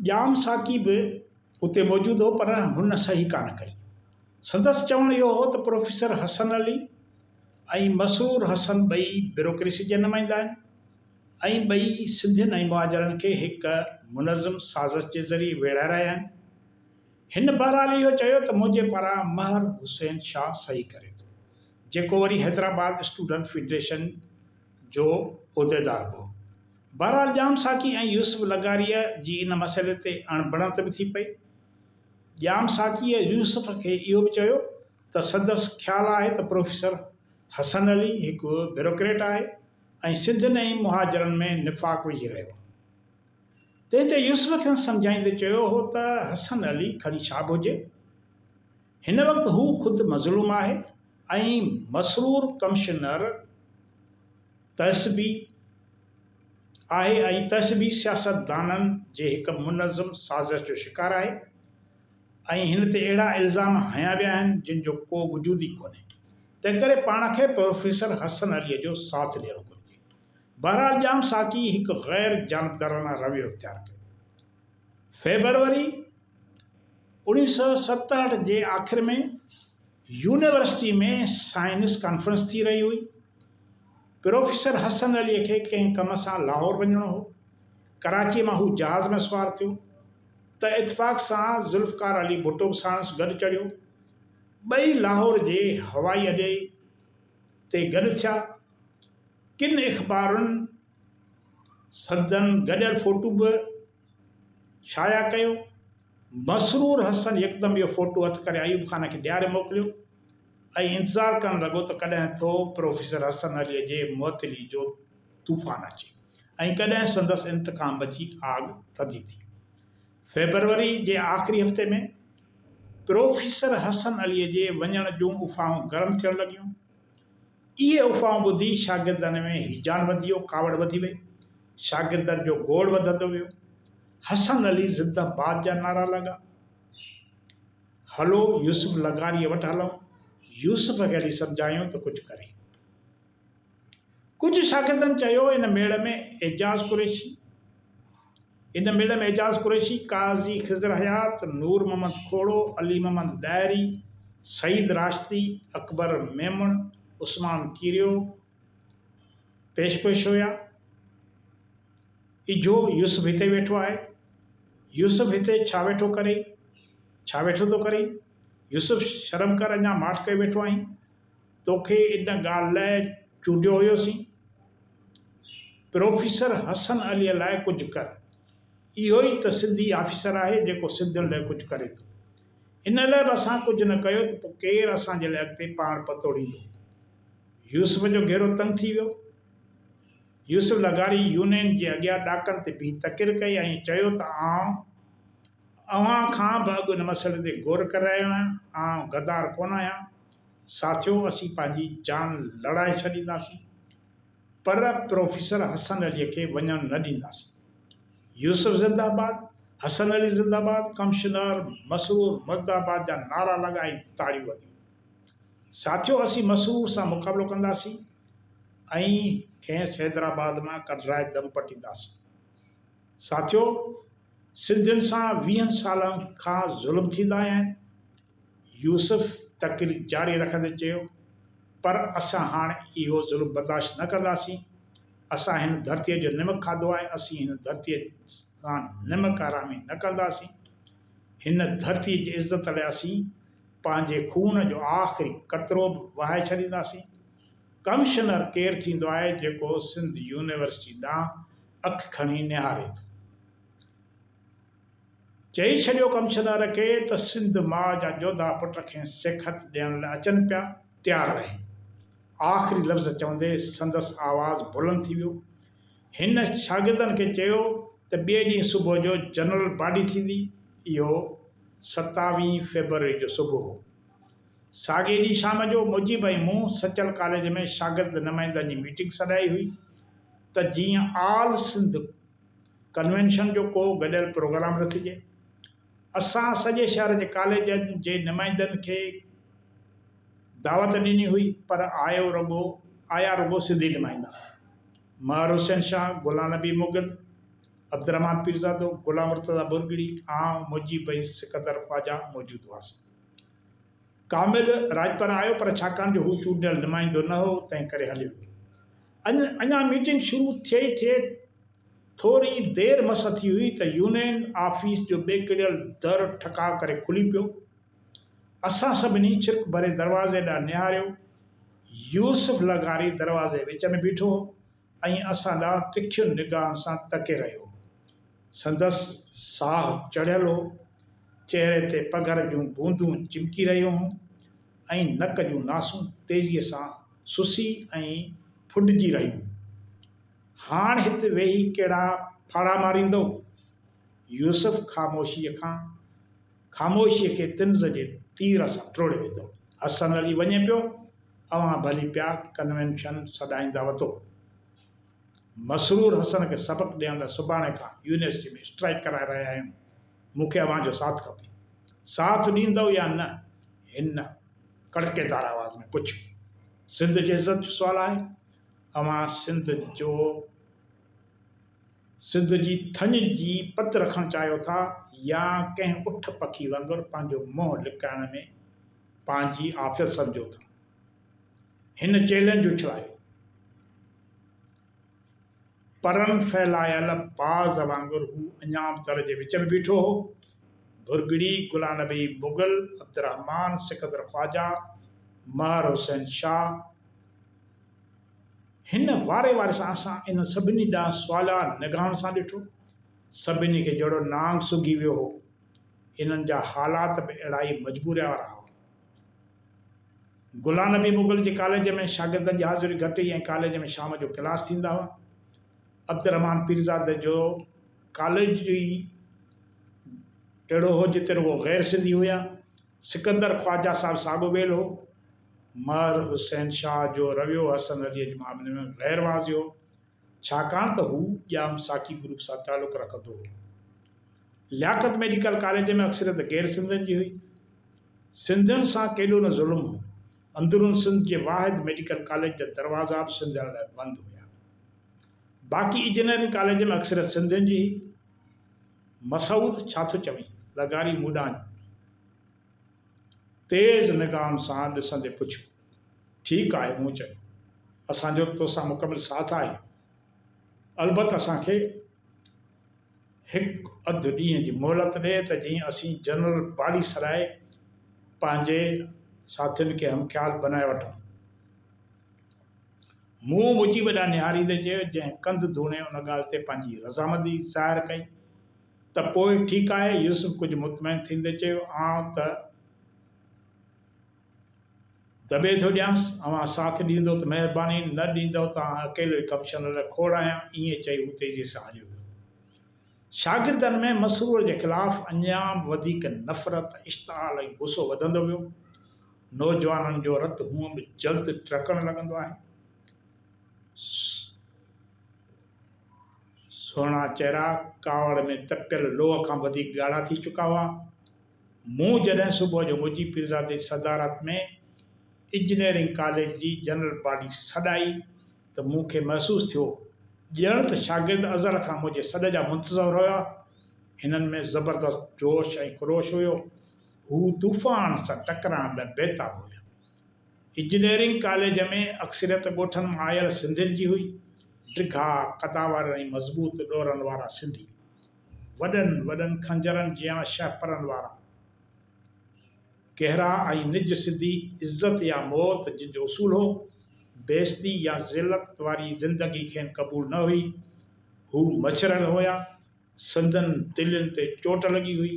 ڄام ساقي به اتي موجود هو پر هن صحيح ڪانه ڪئي. سندس چوڻ اهو هو ته پروفيسر حسن علي ۽ مسرور حسن ٻئي بيوروڪريسي جا نمائندا آهن ۽ ٻئي سنڌين ۽ مهاجرن کي هڪ منظم سازش جي ذريعي ويڙهائي رهيا آهن. هن بهرحال اهو چيو ته منهنجي پاران مهر حسين شاهه صحيح ڪري ٿو جيڪو وري حيدرآباد اسٽوڊنٽ فيڊريشن جو عهديدار به هو. بهرحال ڄام ساقي ۽ يوسف لغاريء جي ان مسئلي تي اڻ بڻت به ٿي پئي. ڄام ساقيء يوسف کي اهو به چيو ته سندس خيال آهي ته پروفيسر حسن علي هڪ بيروڪريٽ آهي ۽ سنڌين ۽ مهاجرن ۾ نفاق وجهي رهيو آهي. تنهن تي يوسف کيس سمجهائيندي چيو هو ته حسن علي کڻي شاب هجي. هن وقت هو خود مظلوم آهي ۽ مسرور ڪمشنر تهذبي آهي ۽ تهذبي سياستدانن جي هڪ منظم سازش جو شڪار آهي ۽ هن تي اهڙا الزام هنيا ويا آهن جن جو ڪو وجود ئي ڪونهي تنهنڪري پاڻ کي پروفيسر حسن عليء جو ساٿ ڏيڻو گهرجي. بهرحال ڄام ساقي هڪ غير جانبدارانه رويو اختيار ڪيو. فيبروري، اوڻيهه سؤ ستهٺ جي آخر ۾ يونيورسٽي ۾ سائنس ڪانفرنس ٿي رهي هئي. پروفيسر حسن عليء کي ڪنهن ڪم سان لاهور وڃڻو هو. ڪراچيء مان هو جهاز ۾ سوار ٿيو ته اتفاق سان ذوالفقار علي ڀٽو به ساڻس گڏ چڙهيو. ٻئي لاهور جي هوائي اڏي تي گڏ ٿيا. ڪن اخبارن سندن گڏيل فوٽو به شايع ڪيو. مسرور حسن يڪدم اهو فوٽو هٿ ڪري ايوب خان کي ڏياري موڪليو ۽ انتظار ڪرڻ لڳو ته ڪڏهن ٿو پروفيسر حسن عليء جي معطلي جو طوفان اچي ۽ ڪڏهن سندس انتقام جي آڳ ٿڌي ٿئي. فيبروري جي آخري هفتي ۾ پروفيسر حسن عليء جي وڃڻ جون افواهون گرم ٿيڻ لڳيون. اهي افواهون ٻڌي شاگردن ۾ هيجان وڌي ويو، ڪاوڙ وڌي وئي. شاگردن جو گوڙ وڌندو ويو. حسن علي زندهه باد جا نعرا لڳا. هلو يوسف لغاريء وٽ هلون. يوسف کي هلي سمجهايون ته ڪجهه ڪري. ڪجهه شاگردن چيو ان ميڙ ۾ اعجاز قريشي، ان ميڙي ۾ اعجاز قريشي، قاضي خضر حيات، نور محمد کوڙو، علي محمد ڏاهري، سعيد راشدي، اڪبر ميمڻ، عثمان ڪيريو پيش پيش هيا. اجهو يوسف هتي ويٺو آهي. يوسف هتي ڇا ويٺو ڪرين؟ ڇا ويٺو ٿو ڪرين؟ يوسف شرم ڪر اڃا ماٺ ڪيو ويٺو آهين. توکي ان ڳالهه لاء چونڊيو هيوسين. پروفيسر حسن عليء لاء ڪجهه ڪر. اهو ئي ته سنڌي آفيسر آهي جيڪو سنڌين لاء ڪجهه ڪري ٿو. ان لاء به اسان ڪجهه نه ڪيو ته پوء ڪير اسان جي لاء اڳتي پاڻ پتوڙيندو. يوسف جو گهيرو تنگ ٿي ويو. يوسف لغاري يونين جي اڳيان ڏاڪڻ تي بيهي تقرير ڪئي ۽ چيو ته آئون اوهان کان به اڳ ان مسئلي تي غور ڪري رهيو آهيان. آئون غدار ڪونه آهيان. ساٿيو اسين پنهنجي جان لڙائي ڇڏينداسين پر پروفيسر حسن علي کي وڃڻ نه ڏينداسين يوسف زنده باد، حسن علي زنده باد، ڪمشنر مسرور مرد آباد جا نعرا لڳا ۽ تاڙيون وڳيون. ساٿيو اسين مسرور سان مقابلو ڪنداسين ۽ کيس حيدرآباد مان ڪڍرائي دم پٽينداسين. ساٿيو سنڌين سان ويهن سالن کان ظلم ٿيندا آيا آهن. يوسف تقرير جاري رکندي چيو، پر اسان هاڻ اهو ظلم برداشت نه ڪنداسين، اسان هن ڌرتيء جو نمڪ کاڌو آهي، اسين هن ڌرتيء سان نمڪ حرامي نه ڪنداسين، هن ڌرتيء جي عزت لاء اسين پنهنجي خون جو آخري قطرو به وهائي ڇڏينداسين. ڪمشنر ڪير ٿيندو آهي جيڪو سنڌ يونيورسٽي ڏانهن اک کڻي نهاري ٿو؟ چئي ڇڏيو ڪمشدار کي ته سنڌ ماء جا جوڌا پٽ کين سيکت ڏيڻ لاء اچن پيا، تيار رهي. آخري لفظ چوندي سندس آواز بلند ٿي ويو. هن شاگردن کي چيو ته ٻئي ڏينهن صبح جو جنرل باڊي ٿيندي. اهو ستاويهه فيبروري جو صبح هو. ساڳئي ڏينهن شام جو مجيب ۽ مون سچل ڪاليج ۾ شاگرد نمائندن جي ميٽنگ سڏائي هئي ته جيئن آل سنڌ ڪنوينشن جو ڪو گڏيل پروگرام رکجي. اسان سڄي شهر جي ڪاليجن جي نمائندن کي دعوت ڏني هئي پر آيو رڳو آيا رڳو سنڌي نمائندا، مهر حسين شاهه، گلان نبي مغل، عبدالرحمان پيرزادو، گلان مرتضيٰ ڀرڳڙي، آئون، موجي ڀئي، سڪندر خواجا موجود هئاسين. ڪامل راڄپر آيو پر ڇاڪاڻ جو هو چونڊيل نمائندو نه هو، تنهن ڪري هليو ويو. اڃا ميٽنگ شروع ٿئي ئي ٿئي ٿوري دير مس ٿي هئي ته يونين آفيس جو ٻيڪڙيل در ٺڪاء ڪري کلي پيو. اسان سڀني ڇرڪ ڀري دروازي ڏانهن نهاريو. يوسف لغاري دروازي وچ ۾ بيٺو هو ۽ اسان ڏانهن تکين نگاهن سان تڪي رهيو هو. سندس ساهه چڙهيل هو. چهري تي پگهر جون بوندون چمڪي رهيون هيون. ۽ نڪ جون ناسون تيزيء سان سسي ۽ ڦڏجي رهيون. هاڻ هت ويهي ڪهڙا ڦاڙها ماريندئو؟ يوسف خاموشيء کان خاموشيء کي طنز جي تير سان ٽوڙي وڌو. حسن علي وڃي پيو، اوهان ڀلي پيا ڪنوينشن سڏائينداوتو. مسرور حسن کي سبق ڏيڻ لاء سڀاڻي کان يونيورسٽيء ۾ اسٽرائيڪ ڪرائي رهيا آهيون. مون کي اوهان جو ساٿ کپي. ساٿ ڏيندؤ يا نه؟ هن ڪڙڪيدار آواز ۾ پڇيو. سنڌ جي عزت جو سوال آهي. اوهان سنڌ جو سنڌ جي ٿڃ جي پت رکڻ چاهيو ٿا يا ڪنهن اٺ پکي وانگر پنهنجو منهن لڪائڻ ۾ پنهنجي عافيت سمجهو ٿا؟ هن چئلينج اڇلايو. پرن ڦهلايل باز وانگر هو اڃا به در جي وچ ۾ بيٺو هو. ڀرڳڙي، گلا نبي مغل، عبدالرحمان، سڪندر خواجه، مهر حسين شاهه، هن واري واري سان اسان انهن سڀني ڏانهن سوالا نگاهن سان ڏٺو. سڀني کي جهڙو نانگ سگهي ويو هو. انهن جا حالات به اهڙائي مجبوريء وارا هئا. گلان نبي مغل جي ڪاليج ۾ شاگردن جي حاضري گهٽ هئي ۽ ڪاليج ۾ شام جو ڪلاس ٿيندا هئا. عبدالرحمان پيرزاده جو ڪاليج ئي اهڙو هو جتي رڳو غير سنڌي هيا. سڪندر خواجه صاحب ساڳو ويل هو. مهر حسين شاهه جو رويو حسن عليء جي معاملي ۾ غير واضح هو. ڇاڪاڻ ته هو ڄام ساقي گروپ سان تعلق رکندو هو. لياقت ميڊيڪل ڪاليج ۾ اڪثريت غير سنڌين جي هئي. سنڌين سان ڪيڏو نه ظلم هو. اندرون سنڌ جي واحد ميڊيڪل ڪاليج جا دروازا به سنڌين لاء بند هيا. باقي اجنيرنگ ڪاليج ۾ اڪثريت سنڌين جي هئي. مسعود ڇا ٿو چوين؟ لغاري مون ڏانهن تيز نگاهن سان ڏسندي پڇيو. ٺيڪ آهي مون چيو. اسان جو توسان مڪمل ساٿ آهي. البت اسان کي هڪ اڌ ڏينهن جي مهلت ڏي ته جيئن اسين جنرل بالي سرائي پنهنجي ساٿين کي هم خيال بنائي وٺون. مون مجيب ڏانهن نهاريندي چيو جنهن ڪنڌ ڌوڻي ان ڳالهه تي پنهنجي رضامندي ظاهر ڪئي ته پوء ٺيڪ آهي يوسف ڪجهه مطمئن ٿيندي چيو آئون ته دٻي ٿو ڏيانس، اوهان ساٿ ڏيندؤ ته مهرباني، نه ڏيندؤ ته آء اڪيلو ئي ڪمشنر جو کوڙ آهيان. ائين چئي هو تيزيء سان هليو ويو. شاگردن ۾ مسرور جي خلاف اڃا به وڌيڪ نفرت، اشتعال ۽ غصو وڌندو ويو. نوجوانن جو رت هونء به جلد ٽڙڪڻ لڳندو آهي. سهڻا چهرا ڪاوڙ ۾ تپيل لوهه کان وڌيڪ ڳاڙها ٿي چڪا هئا. مون جڏهن صبح جو مجيب پيرزاد جي صدارت ۾ انجنيئرنگ ڪاليج جي جنرل باڊي سڏائي ته مون کي محسوس ٿيو ڄڻ ته شاگرد ازل کان منهنجي سڏ جا منتظر هيا. هنن ۾ زبردست جوش ۽ خروش هيو. هو طوفان سان ٽڪرائڻ لاء بيتاب هيا. انجنيئرنگ ڪاليج ۾ اڪثريت ڳوٺن مان آيل سنڌين جي هئي. ڊگها، قداور ۽ مضبوط ڏورن وارا سنڌي. وڏن وڏن خنجرن جيان شهپرن وارا ڪهرا ۽ نج سڌي عزت يا موت جن جو اصول هو، بيعزتي يا ذلت واري زندگي کين قبول نه هئي. هو مڇرل هيا، سندن تلين تي چوٽ لڳي هئي،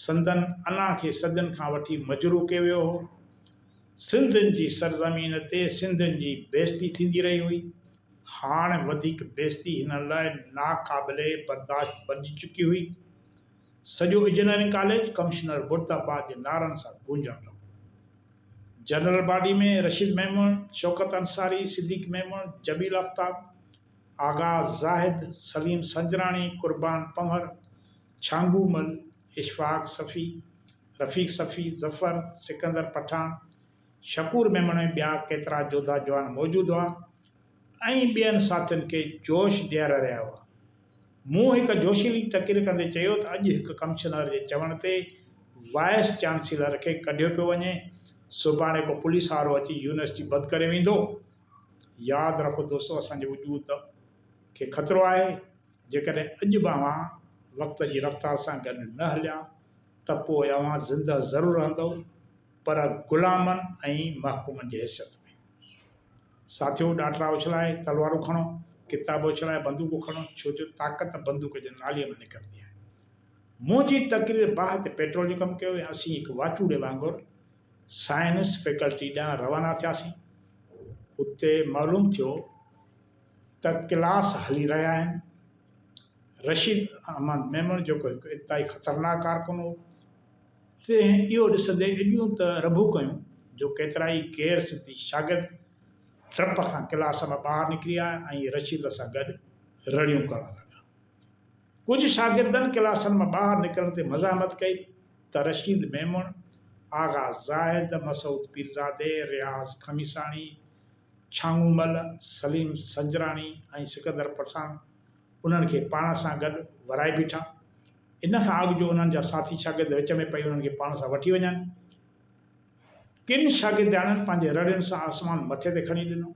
سندن انا کي صدين کان وٺي مجروح ڪيو ويو هو. سنڌين جي سرزمين تي سنڌين جي بيعزتي ٿيندي رهي هئي، هاڻ وڌيڪ بيعزتي هنن لاء ناقابل برداشت بنجي چڪي هئي. سڄو انجنيئرنگ ڪاليج ڪمشنر مرد آباد جي نعرن سان گونجڻ لڳو. جنرل باڊي ۾ رشيد ميمڻ، شوڪت انصاري، صديق ميمڻ، جميل آفتاب، آغا زاهد، سليم سنجراڻي، قربان پنهور، ڇانگو مل، اشفاق صفي، رفيق صفي، ظفر، سڪندر پٺاڻ، شڪور ميمڻ ۽ ٻيا ڪيترا جوڌا جوان موجود هئا ۽ ٻين ساٿين کي جوش ڏياري رهيا هئا. مون هڪ جوشيلي تقرير ڪندي چيو ته اڄ هڪ ڪمشنر جي چوڻ تي وائيس چانسيلر کي ڪڍيو پيو وڃي، سڀاڻي ڪو پوليس وارو اچي يونيورسٽي بند ڪري ويندو. ياد رکو دوستو اسان جي وجود کي خطرو آهي، جيڪڏهن اڄ به اوهان وقت جي رفتار سان گڏ نه هليا ته پوء اوهان زندهه ضرور رهندؤ. پر غلامن ۽ محڪومن جي حيثيت ۾. ساٿيو ڏاٽرا اڇلائي تلوارون کڻو، ڪتاب اڇلائي بندوقون کڻو ڇو جو طاقت بندوق جي نالي مان نڪرندي آهي. منهنجي تقرير باهه تي پيٽرول جو ڪم ڪيو ۽ اسين هڪ واٽوڙي وانگر سائنس فيڪلٽي ڏانهن روانا ٿياسين. اتي معلوم ٿيو ته ڪلاس هلي رهيا آهن. رشيد احمد ميمڻ جيڪو هڪ انتهائي خطرناڪ ڪارڪن هو. تنهن اهو ڏسندي ايڏيون ته رڀون ڪيون جو ڪيترائي غير سنڌي شاگرد ڊپ کان ڪلاس مان ٻاهر نڪري آيا ۽ رشيد سان گڏ رڙيون ڪرڻ لڳا. ڪجهه شاگردن ڪلاسن مان ٻاهر نڪرڻ تي مزاحمت ڪئي ته رشيد ميمڻ، آغا زاهد، مسعود پيرزادي، رياض خميساڻي، ڇانگون مل، سليم سنجراڻي ۽ سڪندر پٺاڻ انهن کي پاڻ سان گڏ ورائي بيٺا. ان کان اڳ جو انهن جا ساٿي شاگرد وچ ۾ پئي انهن کي پاڻ سان وٺي وڃن. ڪن شاگردياڻين پنهنجي رڙين سان آسمان مٿي تي کڻي ڏنو.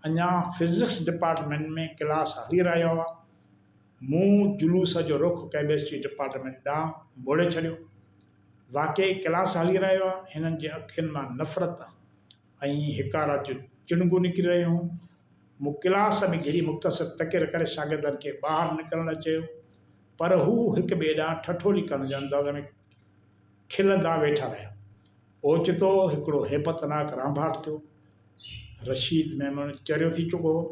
اڃا فزڪس ڊپارٽمينٽ ۾ ڪلاس هلي رهيا هئا. مون جلوس جو رخ ڪيمسٽري ڊپارٽمينٽ ڏانهن موڙي ڇڏيو. واقعي ڪلاس هلي رهيا هئا. هنن جي اکين مان نفرت، ۽ هڪارا جون چڻگون نڪري رهيون هيون. مون ڪلاس ۾ گهڙي مختصر تقرير ڪري شاگردن کي ٻاهر نڪرڻ لاء چيو، پر هو هڪ ٻئي ڏانهن ٺٺولي ڪرڻ جي انداز ۾ کلندا ويٺا رهيا. اوچتو هڪڙو هيبتناڪ رانڀاٽ ٿيو. رشيد ميمڻ چريو ٿي چڪو هو.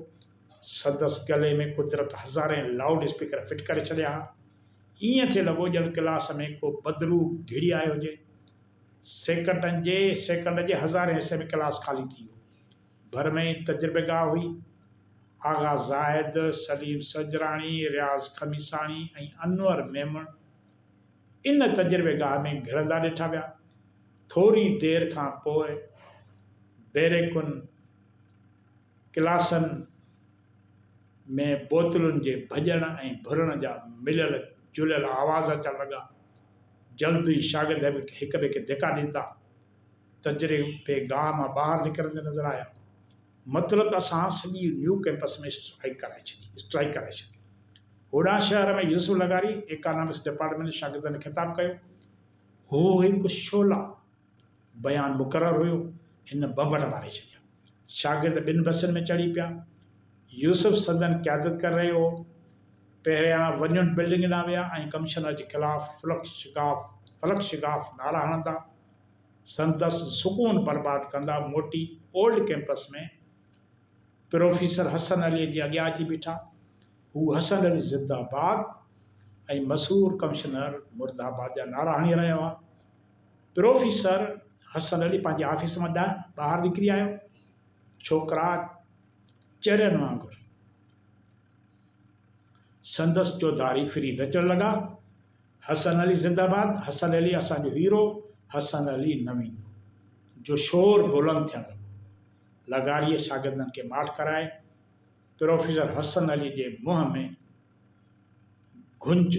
سندس گلي ۾ قدرت هزارين لائوڊ اسپيڪر فٽ ڪري ڇڏيا ها. ائين ٿي لڳو ڄڻ ڪلاس ۾ ڪو بدروح گهڙي آيو هجي. سيڪنڊن جي سيڪنڊ جي هزارين حصي ۾ ڪلاس خالي ٿي ويو. ڀر ۾ ئي تجربيگاهه هئي. آغا زاهد، سليم سجراڻي، رياض خميساڻي ۽ انور ميمڻ ان تجربيگاهه ۾ گهڙندا ڏٺا ويا. ٿوري دير کان پوء بيريڪن، ڪلاسن، ۾ بوتلن جي ڀڄڻ ۽ ڀرڻ جا مليل جليل آواز اچڻ لڳا. جلد ئي شاگرد هڪ ٻئي کي ڌڪا ڏيندا تجربي گاهه مان ٻاهر نڪرندي نظر آيا. مطلق اسان سڄي نيو ڪئمپس ۾ اسٽرائيڪ ڪرائي ڇڏي اسٽرائيڪ ڪرائي ڇڏي. هوڏانهن شهر ۾ يوسف لغاري ايڪانامڪس ڊپارٽمينٽ جي شاگردن کي خطاب ڪيو. هو هڪ شعلا. بيان مقرر هيو، هن بمبٽ ماري ڇڏيا. شاگرد ٻن بسن ۾ چڙهي پيا. يوسف سندن قيادت ڪري رهيو هو. پهريان ونيون بلڊنگ ڏانهن ويا ۽ ڪمشنر جي خلاف فلڪ شگاف فلڪ شگاف نعرا هڻندا سندس سڪون برباد ڪندا موٽي old campus ۾ professor Hasan Ali جي اڳيان اچي بيٺا. هو حسن علي زنده آباد ۽ مسحور ڪمشنر مرد آباد جا نعرا هڻي رهيا هئا. پروفيسر حسن علي پنهنجي آفيس مان ٻاهر نڪري آيو. ڇوڪرا چرين وانگر سندس چوڌاري ڦري نچڻ لڳا، حسن علي زنده باد، حسن علي اسان جو هيرو، حسن علي نه ويندو جو شور بلند ٿيڻ لڳو. لغاريء شاگردن کي ماٺ ڪرائي، پروفيسر حسن علي جي منهن ۾ گهنج.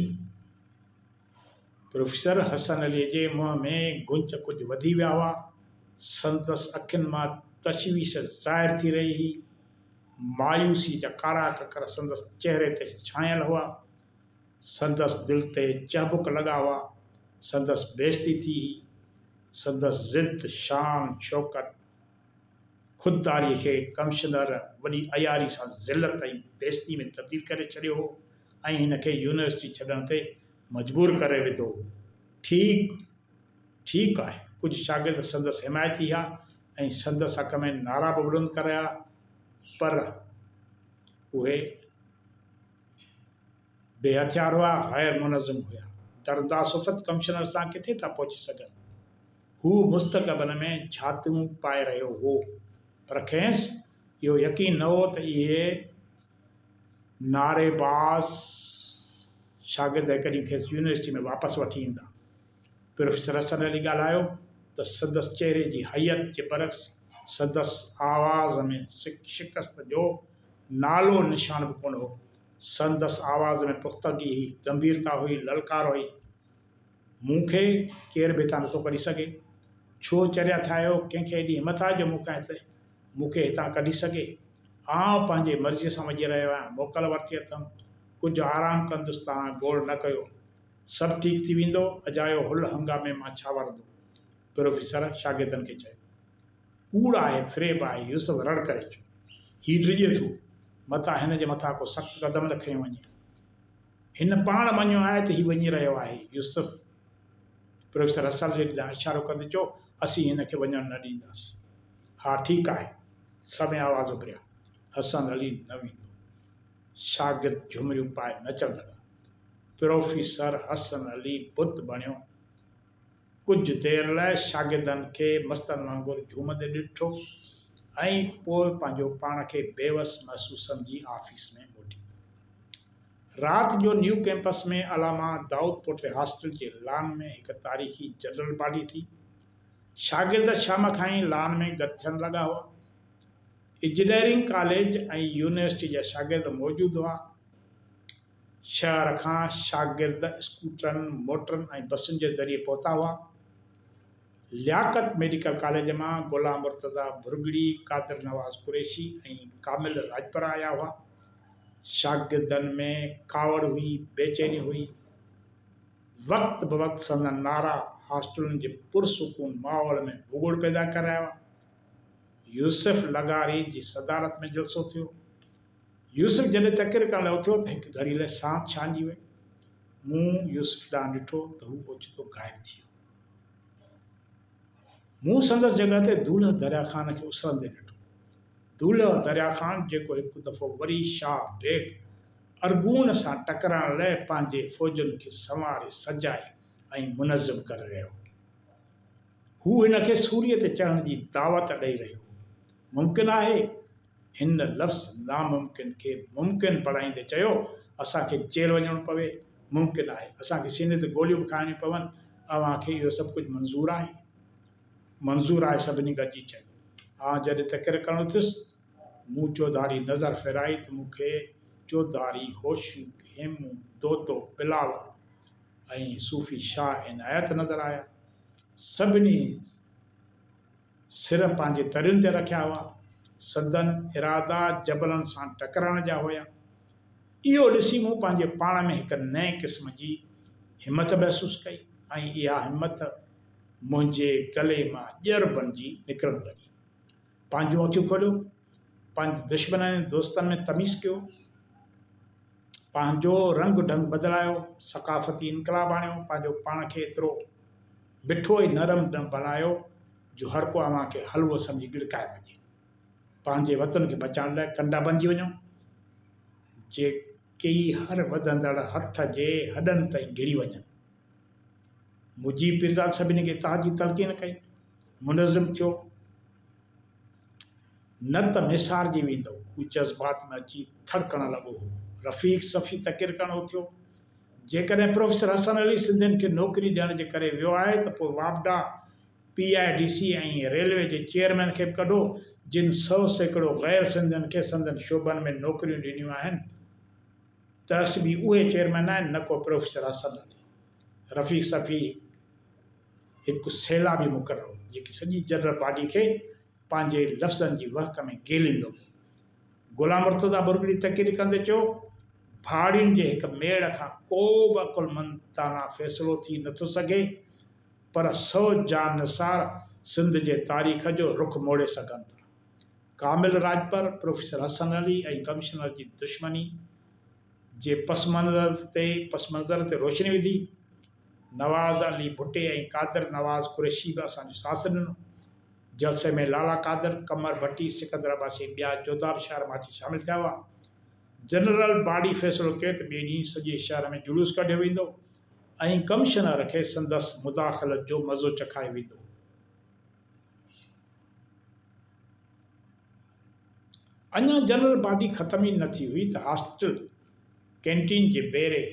پروفيسر حسن عليء جي منهن ۾ گونچ ڪجهه وڌي ويا هئا. سندس اکين مان تشويش ظاهر ٿي رهي هئي. مايوسيء جا ڪارا ڪڪر سندس چهري تي ڇانيل هئا. سندس دل تي چهبڪ لڳا هئا. سندس بيعزتي ٿي هئي. سندس ضد، شان، شوڪت، خودداريء کي ڪمشنر وڏي عياري سان ذلت ۽ بيعزتيء ۾ تبديل ڪري ڇڏيو هو. ۽ هن کي يونيورسٽي ڇڏڻ تي مجبور ڪري وڌو. ٺيڪ ٺيڪ آهي. ڪجهه شاگرد سندس حمايتي هيا ۽ سندس حق ۾ نعرا به بلند ڪرايا پر اهي بي هٿيار هئا، غير منظم هيا. درداصفت ڪمشنر سان ڪٿي ٿا پهچي سگهن. هو مستقبل ۾ جهاتون پائي رهيو هو پر کيس اهو يقين نه هو ته اهي نعري باز شاگرد هڪ ڏينهن کيس يونيورسٽيء ۾ واپس وٺي ايندا. پروفيسر حسن علي ڳالهايو ته سندس چهري جي هيئت جي برعڪس سندس آواز ۾ شڪست جو نالو نشان به ڪونه هو. سندس آواز ۾ پختگي هئي، گنڀيرتا هئي، للڪار هئي. مون کي ڪير به هتان نٿو ڪڍي سگهي. ڇو چريا ٿيا آهيو، ڪنهن کي ايڏي همٿ آهي جو مون کان هتي مون کي هتان ڪڍي سگهي. آئون پنهنجي مرضيء سان وڃي رهيو آهيان. موڪل ورتي اٿم. ڪجهه آرام ڪندس توهان گوڙ نه ڪيو. سڀ ٺيڪ ٿي ويندو. اجايو هل هنگامي مان ڇا ورندو؟ پروفيسر شاگردن کي چيو. ڪوڙ آهي، فريب آهي. يوسف رڙ ڪري چيو. هي ڊڄي ٿو. متان هن جي مٿان ڪو سخت قدم نه کنيو وڃي. هن پاڻ مڃيو آهي ته هي وڃي رهيو آهي. يوسف! پروفيسر رسل ريڊ ڏانهن اشارو ڪندي چيو. اسين هن کي وڃڻ نه ڏينداسين. ها ٺيڪ آهي. سڀئي آواز اڀريا. حسن علي نه ويندو. شاگرد جهمريون پائي نچڻ لڳا. پروفيسر حسن علي بت بڻيو. ڪجهه دير لاء شاگردن کي مستن وانگر جهومندي ڏٺو ۽ پوء پنهنجو پاڻ کي بيوس محسوس سمجهي آفيس ۾ موٽي ويو. رات جو new campus ۾ Allama Daud Pota hostel جي لان ۾ هڪ تاريخي جنرل پارٽي ٿي. شاگرد شام کان ئي لان ۾ گڏ ٿيڻ لڳا هئا. اجنيئرنگ ڪاليج ۽ يونيورسٽي جا شاگرد موجود هئا. شهر کان شاگرد اسڪوٽرن، موٽرن ۽ بسن جي ذريعي پهتا هئا. لياقت ميڊيڪل ڪاليج مان غلام مرتضيٰ ڀرڳڙي، قادر نواز قريشي ۽ ڪامل راڄپرا آيا هئا. شاگردن ۾ ڪاوڙ هئي، بيچيني هئي. وقت بوقت سندن نعرا هاسٽلن جي پرسڪون ماحول ۾ ڀڳوڙ پيدا ڪري رهيا هئا. يوسف لغاري جي صدارت ۾ جلسو ٿيو. يوسف جڏهن تقرير ڪرڻ لاء اٿيو ته هڪ گهڙي لاء سانت ڇانئجي وئي. مون يوسف ڏانهن ڏٺو ته هو اوچتو غائب ٿي ويو. مون سندس جڳهه تي دولهه دريا خان کي اسرندي ڏٺو. دولهه دريا خان جيڪو هڪ دفعو وري شاهه بيگ ارغون سان ٽڪرائڻ لئه پنهنجي فوجن کي سنواري سجائي ۽ منظم ڪري رهيو هو. هو هن کي سوريء تي چڙهڻ جي دعوت ڏئي رهيو هو. ممڪن آهي؟ هن لفظ ناممڪن کي ممڪن بڻائيندي چيو، اسان کي جيل وڃڻو پوي، ممڪن آهي، اسان کي سيني تي گوليون به کائڻيون پون، اوهان کي اهو سڀ ڪجهه منظور آهي؟ منظور آهي سڀني گڏجي چيو. آء جڏهن تقرير ڪرڻ اٿيس، مون چوڌاري نظر ڦيرائي ته مون کي چوڌاري هوشو، هيمو، دودو، بلاول ۽ صوفي شاهه عنايت نظر آيا. سڀني سر پنهنجي ترين تي رکيا هئا. سندن ارادا جبلن سان ٽڪرائڻ جا هيا. اهو ڏسي مون پنهنجي پاڻ ۾ هڪ نئين قسم جي همٿ محسوس ڪئي ۽ اها همٿ، منهنجي ڪلهي مان ڄر بڻجي نڪرڻ لڳي. پنهنجون اکيون کوليو، پنهنجي دشمنن ۽ دوستن ۾ تميز ڪيو، پنهنجو رنگ ڍنگ بدلايو، ثقافتي انقلاب آڻيو، پنهنجو پاڻ کي ايترو مٺو ۽ نرم بڻايو جو هر ڪو اوهان کي حلوو سمجهي ڳڙڪائي وڃي. پنهنجي وطن کي بچائڻ لاء ڪنڊا بڻجي وڃو، جيڪي هر وڌندڙ هٿ جي هڏن تائين گهڙي وڃن. مجيب پيرزاد سڀني کي اتحاد جي تلقين ڪئي. منظم ٿيو نه ته نسارجي ويندؤ. هو جذبات ۾ اچي ٿڙڪڻ لڳو هو. رفيق صفي تقرير ڪرڻ اٿيو. جيڪڏهن پروفيسر حسن علي سنڌين کي نوڪري ڏيڻ جي ڪري ويو آهي ته پوء واپڊا، P I D C ۽ railway جي چيئرمين کي به ڪڍو جن سئو سيڪڙو غير سنڌين کي سندن شعبن ۾ نوڪريون ڏنيون آهن. ترس به اهي چيئرمين آهن نه ڪو پروفيسر اسد علي. رفيق صفي هڪ سيلابي مقرر هو جيڪي سڄي جنرل باڊي کي پنهنجي لفظن جي وهڪ ۾ گيليندو ويو. غلام مرتضيٰ برگڙي تقرير ڪندي چيو، ڀاڙين جي هڪ ميڙ کان ڪو به عقلمند داناء فيصلو ٿي نه ٿو سگهي پر سؤ جانثار سنڌ جي تاريخ جو رخ موڙي سگهن ٿا. ڪامل راڄپر، پروفيسر حسن علي ۽ ڪمشنر جي دشمني جي پس منظر تي پس منظر تي روشني وڌي. نواز علي ڀٽي ۽ قادر نواز قريشي به اسان جو ساٿ ڏنو. جلسي ۾ لالا قادر، قمر ڀٽي، سڪندر عباسي ۽ ٻيا جوڌا به شهر مان اچي شامل ٿيا هئا. جنرل باڊي فيصلو ڪيو ته ٻئي ڏينهن سڄي شهر ۾ جلوس ڪڍيو ويندو ۽ ڪمشنر کي سندس مداخلت جو مزو چکايو ويندو. اڃا جنرل باڊي ختم ئي نه ٿي هئي ته هاسٽل ڪينٽين جي بيري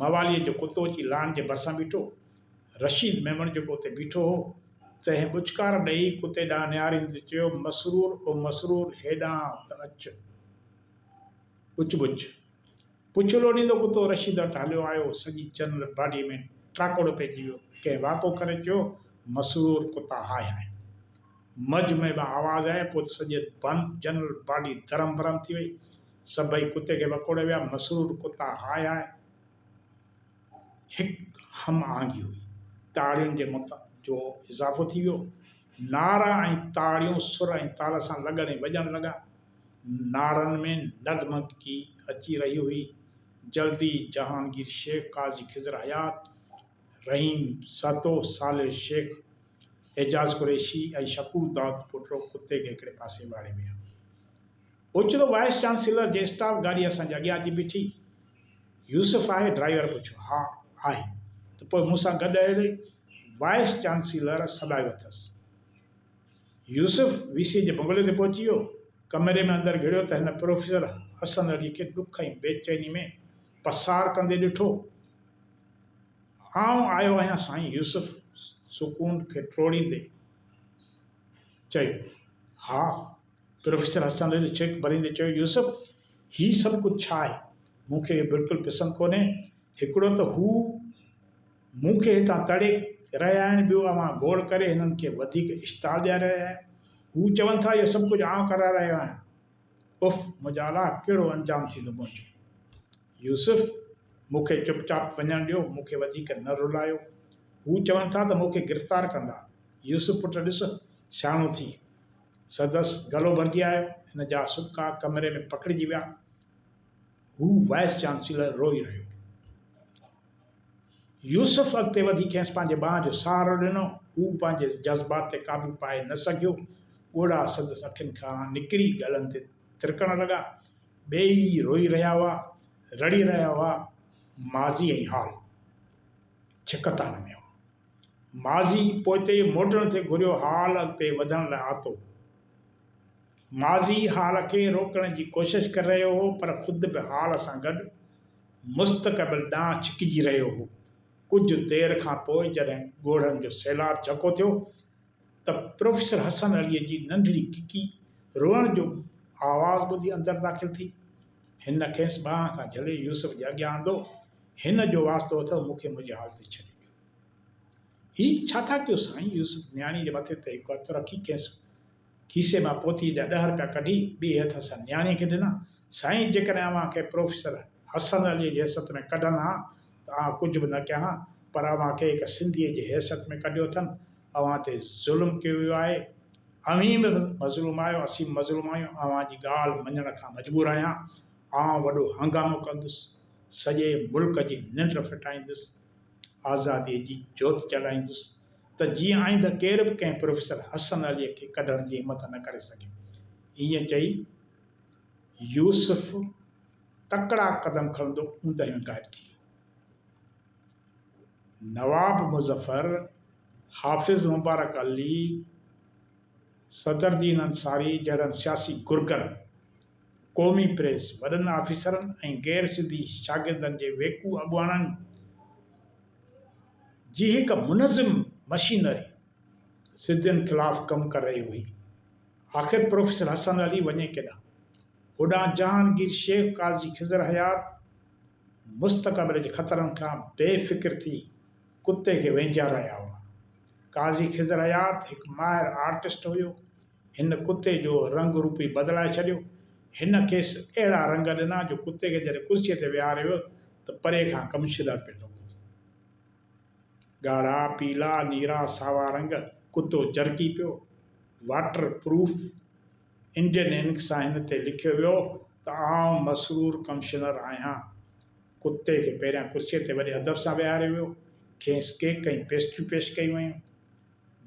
مواليء جو ڪتو اچي لان جي ڀرسان بيٺو. رشيد ميمڻ جيڪو اتي بيٺو هو، تنهن ٻچڪار ڏيئي ڪتي ڏانهن نهاريندي چيو، مسرور او مسرور هيڏانهن ته اچ. ٻچ ٻچ! پڇ لوڏيندو ڪتو رشيد وٽ هليو آيو، سڄي جنرل باڊيء ۾ ٽراڪوڙ پئجي ويو. ڪنهن واڪو ڪري چيو، مسرور ڪتا هاء هاء. مجهه ۾ به آواز آئي ۽ پوء ته سڄي جنرل باڊي درهم برهم ٿي وئي. سڀئي ڪتي کي وڪوڙي ويا. مسرور ڪتا هاء هاء هڪ هم آهنگي هئي. تاڙين جي مت جو اضافو ٿي ويو. نعرا ۽ تاڙيون سر ۽ تال سان لڳڻ ۽ وڄڻ لڳا. نارن ۾ نگمگڪي اچي رهي هئي. جلدي جهانگير شيخ، قاضي خضر حيات، رحيم سهتو، صالح شيخ، اعجاز قريشي ۽ شڪور داد پوٽڙو ڪتي کي هڪڙي پاسي واڙي ويا. اوچتو وائيس چانسيلر جي اسٽاف گاڏي اسان جي اڳيان اچي بيٺي. يوسف آهي؟ ڊرائيور پڇيو. ها آهي. ته پوء مون سان گڏ هل. وائيس چانسيلر سڏايو اٿس. يوسف وي سي جي بنگلي تي پهچي ويو. ڪمري ۾ اندر گهڙيو ته هن پروفيسر حسن علي کي ڏک ۽ بيچيني ۾ پسار ڪندي ڏٺو. آئون آيو آهيان سائين يوسف سڪون کي ٽوڙيندي چيو. ها پروفيسر حسن علي ڇڪ ڀريندي چيو يوسف هي سڀ ڪجهه ڇا آهي؟ مون کي اهو بلڪل پسند ڪونهي هڪڙو ته هو. مون کي هتان تڙي رهيا آهن ٻيو اوهان گوڙ ڪري هنن کي وڌيڪ اشتعال ڏياري رهيا آهيو هو چون ٿا اهو سڀ ڪجهه آئون ڪرائي رهيو آهيان اف منهنجا الاء ڪهڙو انجام ٿيندو منهنجو يوسف مون کي چپ چاپ وڃڻ ڏيو مون کي وڌيڪ نه رلايو هو چون ٿا ته مون کي گرفتار ڪندا يوسف پٽ ڏس سياڻو ٿي سندس گلو ڀرجي آيو هن جا سٻڪا ڪمري ۾ پکڙجي ويا هو وائيس چانسيلر روئي رهيو. يوسف اڳتي وڌي کيس پنهنجي ٻانهن جو سهارو ڏنو. هو به پنهنجي جذبات تي قابو پائي نه سگهيو. ڳوڙها سندس اکين کان نڪري ڳلن تي ترڪڻ لڳا. ٻيئي ئي روئي رهيا هئا، رڙي رهيا هئا. ماضي ۽ حال ڇڪتان ۾ هو. ماضي پوئتي موٽڻ تي گهريو، حال اڳتي وڌڻ لاء آتو. ماضي حال کي روڪڻ جي ڪوشش ڪري رهيو هو پر خود به حال سان گڏ مستقبل ڏانهن ڇڪجي رهيو هو. ڪجهه دير کان پوء جڏهن ڳوڙهن جو سيلاب جهڪو ٿيو ته پروفيسر حسن عليء جي ننڍڙي ڪڪي روئڻ جو آواز ٻڌي اندر داخل ٿي. هن کيس ٻانهن کان جهلي يوسف جي اڳيان آندو، هن جو واسطو اٿئو مون کي منهنجي حال تي ڇڏي ڏيو. هي ڇا ٿا ڪيو سائين؟ يوسف نياڻي جي مٿي تي هڪ هٿ رکي کيس کيسي مان پوٿيء جا ڏهه رپيا ڪڍي ٻئي هٿ سان نياڻيء کي ڏنا، سائين جيڪڏهن اوهان کي پروفيسر حسن عليء جي حيثيت ۾ ڪڍن ها ته آئون ڪجهه به نه ڪيان ها، پر اوهان کي هڪ سنڌيء جي حيثيت ۾ ڪڍيو اٿن، اوهان تي ظلم ڪيو ويو آهي، اوهين به مظلوم آهيو، اسين به مظلوم آهيون، اوهان جي ڳالهه مڃڻ کان مجبور آهيان، آئون وڏو هنگامو ڪندس، سڄي ملڪ جي ننڊ ڦٽائيندس. آزاديء جي جوت جلائيندس ته جيئن آئنده ڪير به ڪنهن پروفيسر حسن عليء کي ڪڍڻ جي همٿ نه ڪري سگهي. ائين چئي يوسف تڪڙا قدم کڻندو اوندهه ۾ غائب ٿي ويو. نواب مظفر، حافظ مبارڪ علي، صدر دين انصاري جهڙن سياسي گرگن، قومي پريس، وڏن آفيسرن ۽ غير سنڌي شاگردن جي ويڪو اڳواڻن جي هڪ منظم مشينري سنڌين خلاف ڪم ڪري رهي هئي. آخر پروفيسر حسن علي وڃي ڪيڏانهن؟ هوڏانهن جهانگير شيخ، قاضي خضر حيات مستقبل جي خطرن کان بي فڪر ٿي ڪتي کي وهنجار رهيا هئا. قاضي خضر حيات هڪ ماهر آرٽسٽ هيو. هن ڪتي جو رنگ روپ ئي بدلائي ڇڏيو. هن کيس اهڙا رنگ ڏنا جو ڪتي کي جڏهن ڪرسيء تي ويهاريو ويو ته پري کان ڪمشدر پئي لڳو. ڳاڙها، پيلا، نيرا، ساوا رنگ ڪتو جرڪي پيو. واٽر پروف انڊين انڪ سان هن تي لکيو ويو ته آئون مسرور ڪمشنر آهيان. ڪتي کي پهريان ڪرسيء تي وڏي ادب سان ويهاريو ويو. کيس ڪيڪ ۽ پيسٽريون پيش ڪيون ويون.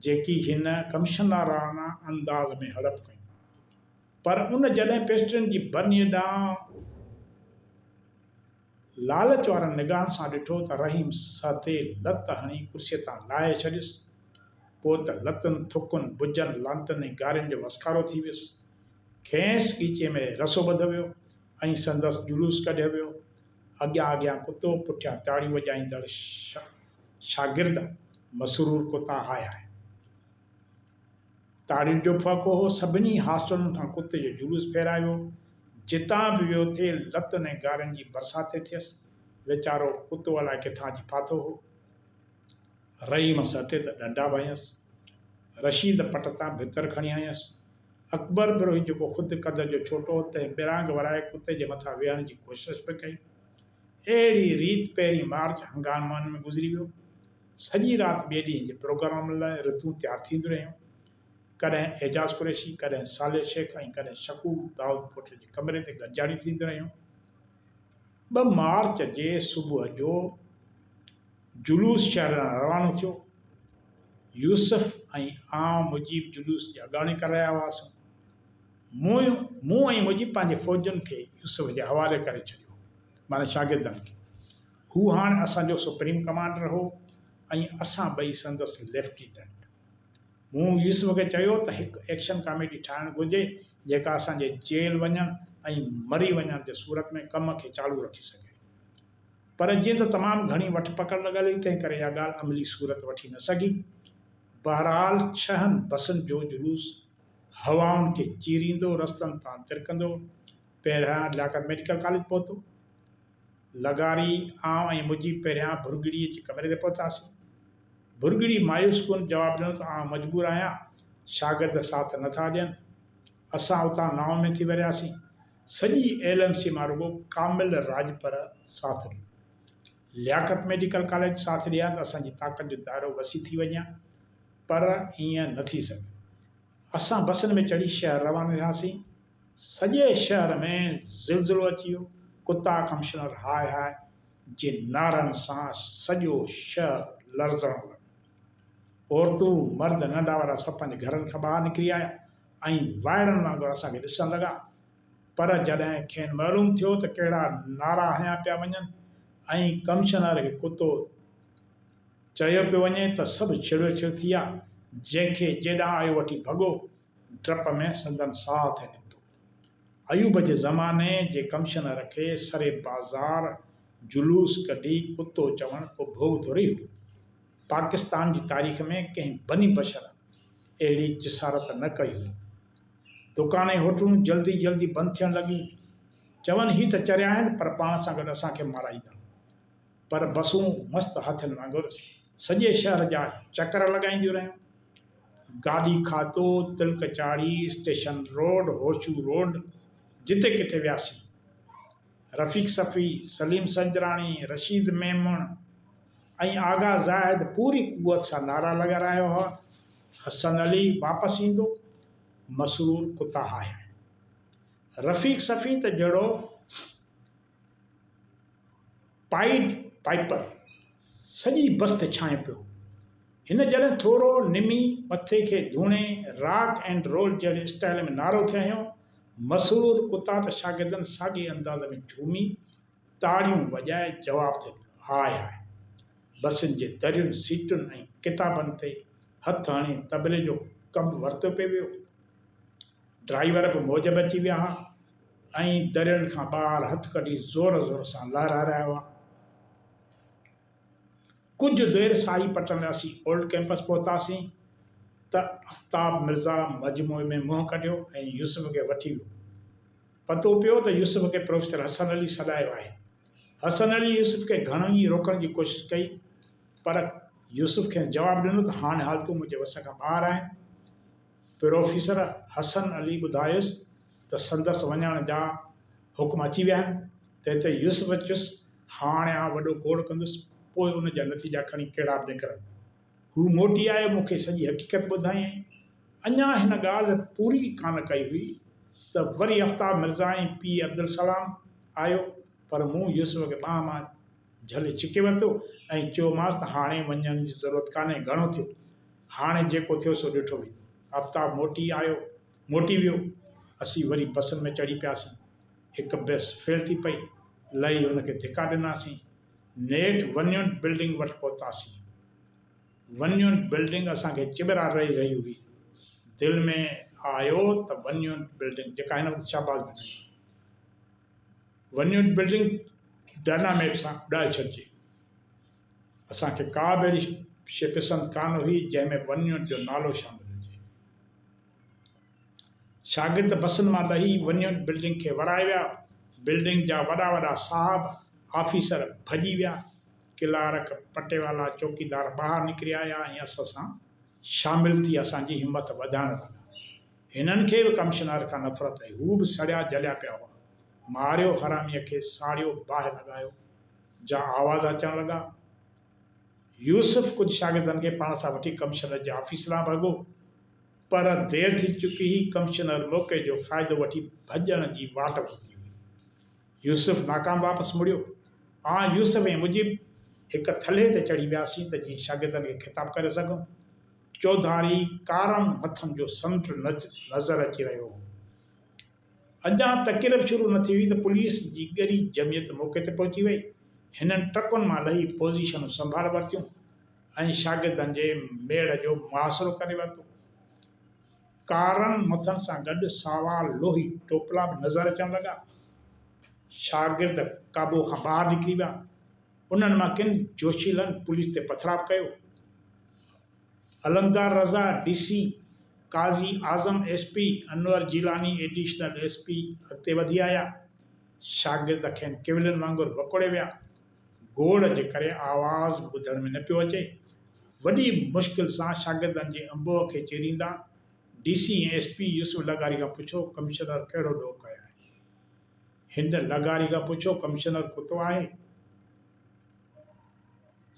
جيڪي هن ڪمشنرانه انداز ۾ هڙپ ڪيون. پر ان جڏهن پيسٽرين جي برنيء ڏانهن لالچ وارن نگاهن سان ڏٺو ته رحيم سهتي لت هڻي ڪرسيء تان لاهي ڇڏيس. پوء ته لتن، ٿڪن، بجن، لعنتن ۽ گارين جو وسڪارو ٿي ويس. کيس ڳيچي ۾ رسو ٻڌو ويو ۽ سندس جلوس ڪڍيو ويو. اڳيان اڳيان ڪتو، پٺيان تاڙيون وڄائيندڙ شاگرد. مسرور ڪتا هاء هاء تاڙين جو ڦهڪو هو، سڀني هاسٽلن کان ڪتي جو جلوس ڦيرايو، جتان به ويو ٿي لتن ۽ گارين جي برساتي ٿيس، ويچارو ڪتو الائي ڪٿان اچي ڦاٿو هو، رحيم سهتي ته ڏنڊا به هنيس، رشيد پٽ تان ڀتر کڻي هنيس، اڪبر بروهي جيڪو خود قد جو ڇوٽو هو تنهن ٻرانگ ورائي ڪتي جي مٿان ويهڻ جي ڪوشش به ڪئي، اهڙي ريت پهرين مارچ هنگان مان ۾ گذري ويو. سڄي رات ٻئي ڏينهن جي پروگرام لاء رتون تيار ٿينديون رهيون. ڪڏهن اعجاز قريشي، ڪڏهن صالح شيخ ۽ ڪڏهن شڪور دائود پوٽر جي ڪمري تي گڏجاڻيون ٿينديون رهيون. ٻه مارچ جي صبح جو جلوس شهر ڏانهن روانو ٿيو. يوسف ۽ آئون مجيب جلوس جي اڳاڻي ڪري رهيا هئاسون. مون مون ۽ مجيب پنهنجي فوجن کي يوسف جي حوالي ڪري ڇڏيو هو، معنيٰ شاگردن کي. هو هاڻ اسان جو سپريم ڪمانڊر هو ۽ اسان ٻئي سندس ليفٽيننٽ. مون يوسف کي چيو ته هڪ ايڪشن ڪاميٽي ٺاهڻ گهرجي جيڪا اسان جي جيل وڃڻ ۽ مري وڃڻ جي صورت ۾ ڪم کي چالو رکي سگهي. پر جيئن ته تمام گهڻي وٺ پڪڙ لڳل هئي تنهن ڪري اها ڳالهه عملي صورت وٺي نه سگهي. بهرحال ڇهن بسن جو جلوس هوائن کي چيريندو رستن تان ترڪندو پهريان لياقت ميڊيڪل ڪاليج پهتو. لغاري، آئون ۽ مجيب پهريان ڀرڳڙي جي ڪمري تي پهتاسين. ڀرڳڙي مايوس ڪن جواب ڏنو ته آئون مجبور آهيان، شاگرد ساٿ نه ٿا ڏين. اسان اتان نائون ۾ ٿي ورياسين. سڄي ايل ايم سي مان رڳو ڪامل راڄپر ساٿ ڏنو. لياقت ميڊيڪل ڪاليج ساٿ ڏئي ها ته اسان جي طاقت جو دائرو وسيع ٿي وڃي ها پر ائين نه ٿي سگهيو. اسان بسن ۾ چڙهي شهر روانو ٿياسين. سڄي شهر ۾ زلزلو اچي ويو. ڪتا ڪمشنر هاء هاء جي نعرن سان سڄو شهر لرزڻ لڳو. عورتون، مرد، ننڍا وڏا سڀ پنهنجي گهرن کان ٻاهر نڪري آيا ۽ وائڙن وانگر اسان کي ڏسڻ لڳا. پر جڏهن کين معلوم ٿيو ته ڪهڙا نعرا هنيا پيا وڃن ۽ ڪمشنر کي ڪتو چيو پيو وڃي ته سڀ ڇڙيو ڇڙ ٿي ويا، جنهن کي جيڏانهن آيو وٺي ڀڳو، ڊپ ۾ سندن ساهه ٿي نڪتو. ايوب جي زماني جي ڪمشنر کي سري بازار جلوس ڪڍي ڪتو چوڻ ڪو ڀوڳ ٿوري هو. پاڪستان جي تاريخ ۾ ڪنهن بني بشر اهڙي جسارت نه ڪئي هئي. دڪان ۽ هوٽلون جلدي جلدي بند ٿيڻ لڳيون. چون هي ته چريا آهن پر پاڻ سان گڏ اسان کي مارائيندا. پر بسون مست هاٿين وانگر سڄي شهر جا چڪر لڳائينديون رهيون. گاڏي کاتو، Tilak Charhi, station road, Hosho road جتي ڪٿي وياسين. رفيق صفوي، سليم سنجراڻي، رشيد ميمڻ ۽ آغا زاهد پوري قوت سان نعرا لڳا رهيا هئا. حسن علي واپس ايندو، مسرور ڪتا آهيا. رفيق صفي ته جهڙو پائيڊ پائپر، سڄي بست ڇانء پيو هو. هن جڏهن ٿورو نمي مٿي کي ڌوڻي راڪ اينڊ رول جهڙي اسٽائيل ۾ نارو ٿي هنيو، مسرور ڪتا ته شاگردن ساڳئي انداز ۾ جهومي، تاڙيون وڄائي جواب ٿي ڏنو، هاء هاء! بسين جي درين، سيٽن ۽ ڪتابن تي هٿ هڻي طبلي جو ڪم ورتو پئي ويو. ڊرائيور به موج ۾ اچي ويا ها ۽ درين کان ٻاهر هٿ ڪڍي زور زور سان لهرائي رهيا هئا. ڪجهه دير ساهي پٽڻ لاء اسين اولڊ ڪئمپس پهتاسين ته آفتاب مرزا مجموعي ۾ منهن ڪڍيو ۽ يوسف کي وٺي ويو. پتو پيو ته يوسف کي پروفيسر حسن علي سڏايو آهي. حسن علي يوسف کي گهڻو ئي روڪڻ جي ڪوشش ڪئي پر يوسف کيس جواب ڏنو ته هاڻ حالتون منهنجي وس کان ٻاهر آهن. پروفيسر حسن علي ٻڌايس ته سندس وڃڻ جا حڪم اچي ويا آهن. تنهن تي يوسف چيس هاڻ آء وڏو گوڙ ڪندس پوء ان جا نتيجا کڻي ڪهڙا به نڪرن. هو موٽي آيو، مون کي سڄي حقيقت ٻڌايائين. اڃا هن ڳالهه پوري ڪانه ڪئي هئي ته وري افتاب مرزا ۽ پيء عبدالسلام آيو، پر مون يوسف کي ٻانهن مان جهلي ڇڪي ورتو ۽ چيومانس ته هاڻي وڃڻ جي ضرورت ڪانهي، گهڻو ٿيو، هاڻي جيڪو ٿيو سو ڏٺو ويندو. افتاب موٽي آيو، موٽي ويو. اسين وري بسن ۾ چڙهي پياسين. هڪ بس فيل ٿي پئي، لهي هن کي ڌڪا ڏناسين. نيٺ ونيون بلڊنگ وٽ پهتاسين. ونيون بلڊنگ اسان کي چٻرا رئي رهي هئي. دل ۾ آيو ته ونيون بلڊنگ جيڪا هن وقت شهباز ۾ هئي. ونيون بلڊنگ ڊائناميٽ سان اڏائي ڇڏجي. اسان کي ڪا به اهڙي شي پسند ڪانه هئي جنهن ۾ ونيون جو نالو شامل هجي. شاگرد بسن مان لهي ونيون بلڊنگ کي ورائي ويا، بلڊنگ جا وڏا وڏا صاحب، آفيسر ڀڄي ويا، ڪلارڪ، پٽيوالا، چوڪيدار ٻاهر نڪري آيا ۽ اسان سان شامل ٿي اسان جي همت وڌائڻ لڳا. هنن کي به ڪمشنر کان نفرت هئي، هو به سڙيا جليا پيا هئا. ماريو حراميء کي ساڙيو باهه لڳايو جا آواز اچڻ لڳا. يوسف ڪجهه شاگردن کي پاڻ سان وٺي ڪمشنر جي آفيس ڏانهن ڀڳو پر دير ٿي چڪي هئي، ڪمشنر موقعي جو فائدو وٺي ڀڄڻ جي واٽ ورتي هئي. يوسف ناڪام واپس مڙيو. آء، يوسف ۽ مجيب هڪ ٿلهي تي چڙهي وياسين ته جيئن شاگردن کي خطاب ڪري سگهون. چوڌاري ڪارم مٿن جو سمنڊ نظر اچي رهيو هو. اڄان تقريب شروع نه ٿي هئي ته پوليس جي ڳري جمعيت موقعي تي پهچي وئي. هنن ٽرڪن مان لهي پوزيشنون سنڀال ورتيون ۽ شاگردن جي ميڙ جو محاصرو ڪري ورتو. ڪارن مٿن سان گڏ ساوا لوهي ٽوپلا به نظر اچڻ لڳا. شاگرد قابو کان ٻاهر نڪري ويا. انهن مان ڪن جوشيلن پوليس تي پٿراء به ڪيو. Alamdar Raza D C, Qazi Azam S P, Anwar Jilani additional S P اڳتي وڌي آيا. شاگرد کين ڪيولن وانگر وڪوڙي ويا. گوڙ جي ڪري آواز ٻڌڻ ۾ نه پيو اچي. وڏي مشڪل سان شاگردن جي انبوهه کي چيريندا D C ۽ S P Yusuf لغاري کان پڇيو ڪمشنر ڪهڙو ڏوهه ڪيو آهي؟ هن لغاري کان پڇيو ڪمشنر ڪتو آهي؟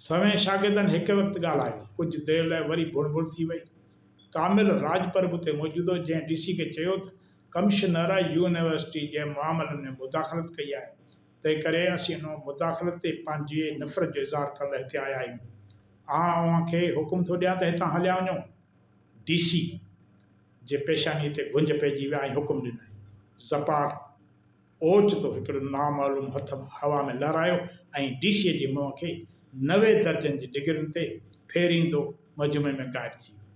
سوين شاگردن هڪ وقت ڳالهايو. ڪجهه دير لاء وري بڻ بڻ ٿي وئي. ڪامل راڄپر به اتي موجود هو، جنهن ڊي سي کي چيو ته ڪمشنر يونيورسٽي جنهن معاملن ۾ مداخلت ڪئي آهي، تنهن ڪري اسين ان مداخلت تي پنهنجي نفرت جو اظهار ڪرڻ لاء هتي آيا آهيون. آئون اوهان کي حڪم ٿو ڏيان ته هتان هليا وڃو. ڊي سي جي پيشانيء تي گهنج پئجي ويا ۽ حڪم ڏنائين، زپار! اوچتو هڪڙو نامعلوم هٿ هوا ۾ لهرايو ۽ ڊي سيء جي منهن کي نوي درجن جي ڊگرين تي ڦيريندو مجمعي ۾ غائب ٿي ويو.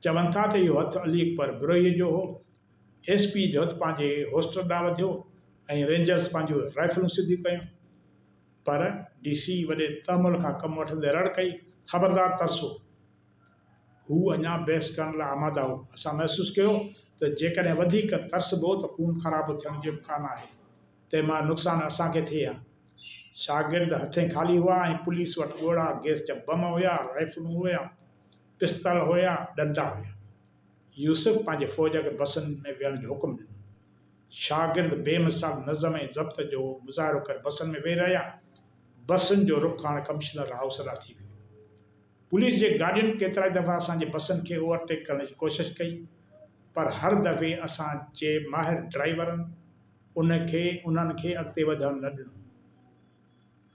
چون ٿا ته اهو هٿ علي اڪبر بروهيء جو هو. ايس پيء جو هٿ پنهنجي هوسٽر ڏانهن وڌيو ۽ رينجرز پنهنجون رائفلون سڌيون ڪيون. پر ڊي سيء وڏي تحمل کان ڪم وٺندي رڙ ڪئي، خبردار ترسو! هو اڃا بحث ڪرڻ لاء آماده هو. اسان محسوس ڪيو ته جيڪڏهن وڌيڪ ترسبو ته خون خراب ٿيڻ جو امڪان آهي. تنهن مان نقصان اسان کي ٿئي ها. شاگرد هٿين خالي هئا ۽ پوليس وٽ ڳوڙها گيس جا بم هيا، رائفلون هيون، پستل هيا، ڏنڊا هيا. يوسف پنهنجي فوج کي بسن ۾ ويهڻ جو حڪم ڏنو. شاگرد بي مثال نظم ۽ ضبط جو مظاهرو ڪري بسن ۾ ويهي رهيا. بسن جو رخ هاڻ ڪمشنر هائوس ڏانهن ٿي ويو. پوليس جي گاڏين ڪيترائي دفعا اسان جي بسن کي اوور ٽيڪ ڪرڻ جي ڪوشش ڪئي پر هر دفعي اسان جي ماهر ڊرائيورن ان کي انهن کي اڳتي وڌڻ نه ڏنو.